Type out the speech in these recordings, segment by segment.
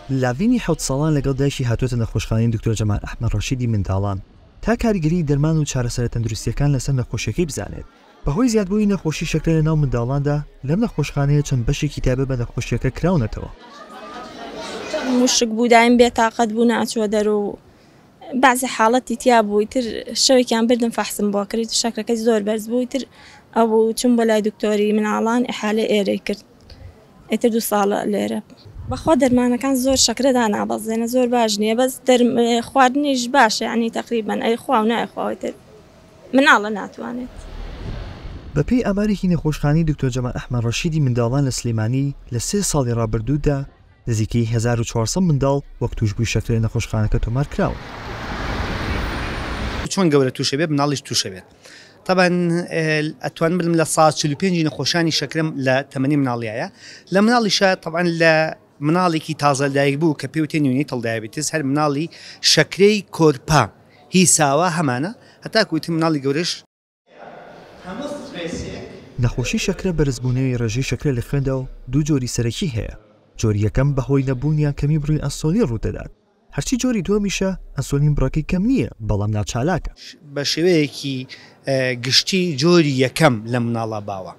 لاڤینی حەوت ساڵان لەگەڵ دایکی هاتووەتە نەخۆشخانەی دکتۆر جەمال ئەحمەد ڕەشیدی منداڵان تا کاریگەریی دەرمان و چارەسەرە تەندروستییەکان لەسەر نەخۆشییەکەی بزانێت. بەهۆی زیادبوونی نەخۆشی شەکرە لەناو منداڵاندا لەم نەخۆشخانەیە چەند بەشێکی تایبەت بە نەخۆشییەکە کراونەتەوە. وشکبوو، دایم بێتاقەت بوو، ناچووە دەر و. بەعزێ حاڵەتی تیا بوو ئیتر شەوێکیان بردم فەحسم بۆ کرد شەکرەکەی زۆر بەرز بوو ئیتر ئەوبوو چووم بۆ لای دکتۆری مناڵان ئیحالەی ئێرەی کرد ئیتر دوو ساڵە لێرە بەخوا دەرمانەکان زۆر شەکرە دانابەزێنە زۆر باش نییە بەس دەرم خواردنیش باشە یعنی تەقریبەن ئەیخوا و نایخوا ئیتر مناڵە ناتوانێت. بەپێی ئامارێکی نەخۆشخانەی دکتۆر جەمال ئەحمەد ڕەشیدی منداڵان لە سلێمانی لە سێ ساڵی ڕابردوودا، نزیکەی هەزار و چوار سەد منداڵ وەک تووشبووی شەکرە لە نەخۆشخانەکە تۆمار کراون. چۆن گەورە تووشە بێت مناڵیش تووشە بێت تەبەن ئەتوان بلم لە سا چل و پێنجی نەخۆشانی شەکرم لە تەمەنی مناڵیایە لە مناڵیشە تەبەن لە مناڵێکی تازە دایک بوو کە پێوتێ نیونی تڵدایبتیز هەر مناڵی شەکرەی کۆرپە هی ساوا هەمانە هەتاکوتی مناڵی گەورەش هەموو سترێسێک. نەخۆشی شەکرە بەرزبوونەوی ڕێژەی شەکرە لە خوێندا و دوو جۆری سەرەکی هەیە، جۆری یەکەم بەهۆی نەبوون یان کەمی بڕی ئەنسۆلین ڕوودەدات، هەرچی جۆری دووەمیشە ئەنسۆلین بڕەکەی کەم نییە بەڵام ناچالاکە. بە شێوەیەکی گشتی جۆری یەکەم لە مناڵا باوە.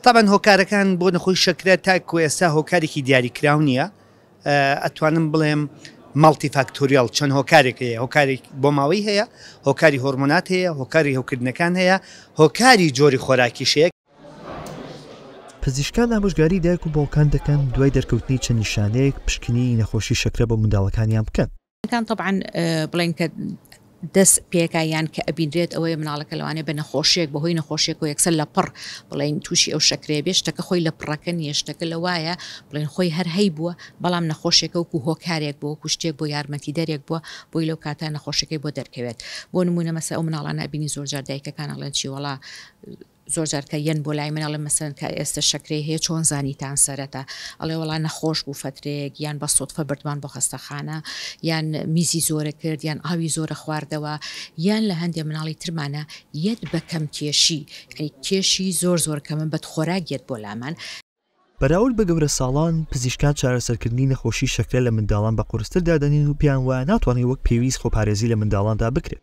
تەبعەن هۆکارەکان بۆ نەخۆی شەکرە تاکوو ئێستا هۆکارێکی دیاریکراو نییە، ئەتوانم بڵێم ماڵتی فاکتۆریاڵ چەند هۆکارێک هەیە هۆکاری بۆماوەی هەیە هۆکاری هۆرمۆنات هەیە هۆکاری هەوکردنەکان هەیە هۆکاری جۆری خۆراکیش هەیە. پزیشکان ئامۆژگاری دایک و باوکان دەکەن دوای دەرکەوتنی چەند نیشانەیەک پشکنینی نەخۆشی شەکرە بۆ منداڵەکانیان بکەن. کان تەبعەن بڵێن کە دەست پێکا یان کە ئەبینرێت ئەوەیە مناڵەکە لەوانێ بە نەخۆشیێک بە هۆی نەخۆشیێک و یەکسەر لە پڕ بڵین تووشی ئەو شکرێ بێ شتەکە خۆی لە پڕەکە نیە شتەکە لە وایە بڵین خۆی هەر هەی بووە بەڵام نەخۆشیێکە وکو هۆکارێک بۆ کوشتێک بۆ یارمەتی دەرێک بووە بۆی لەو کاتە نەخۆشەکەی بۆ دەرکەوێت بۆ نمونە مەسە ئەو مناڵانە بینی زۆرجار دایکەکان ئەڵێن چیوەڵا زۆر جار کە یەن بۆ لای من ئەڵێن مەسەلەن کە ئێستە شەکرەی هەیە چۆن زانیتان سەرەتا؟ ئەڵێ وەڵا نەخۆش بوو فەترەیەک یان بە سوتفە بردمان بۆ خەستەخانە یان میزی زۆرە کرد یان ئاوی زۆرە خواردەوە یان لە هەندێ مناڵی ترمانە یەت بە کەم کێشی یانی کێشی زۆر زۆر کەمە بەد خۆراک یەت بۆ لامان. بەراورد بە گەورەساڵان، پزیشکان چارەسەرکردنی نەخۆشی شەکرە لە منداڵان بە قورستر دادەنێن و پێیان وایە ناتوانرێت وەک پێویست خۆپارێزی لە منداڵاندا بکرێت.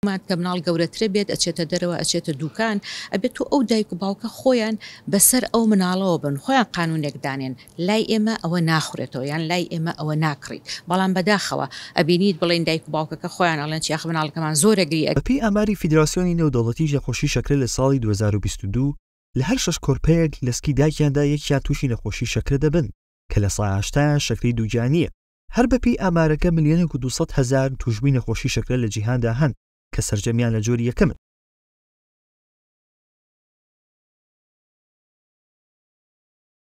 ماک کە مناڵ گەورەترە بێت ئەچێتە دەرەوە ئەچێتە دوکان ئەبێت و ئەو دایک و باوکە خۆیان بەسەر ئەو مناڵەوە بن خۆیان قانونێک دانێن لای ئێمە ئەوە ناخورێتەوە یان لای ئێمە ئەوە ناکڕیت بەڵام بەداخەوە ئەبینیت بڵێن دایک و باوکەکە خۆیان ئەڵێن چیاخ مناڵەکەمان زۆر گری بەپێی ئاماری فیدراسیۆنی نێودەوڵەتی ژەقۆشی شەکرە لە ساڵی دوو هەزار و بیست و دوو لە هەر شەش کۆرپەیەک لە سکی دایکیاندا یەکیان توشی نەخۆشی شەکرە دەبن کە لە سەئاشتایان شەکرەی دووگیانیە. هەر بەپێی ئامارەکە ملیۆنێک و دوو سەد هەزار تووشبووی نەخۆشی شەکرە لە جیهاندا هەن کە سەرجەمیان لە جۆری یەکەمن.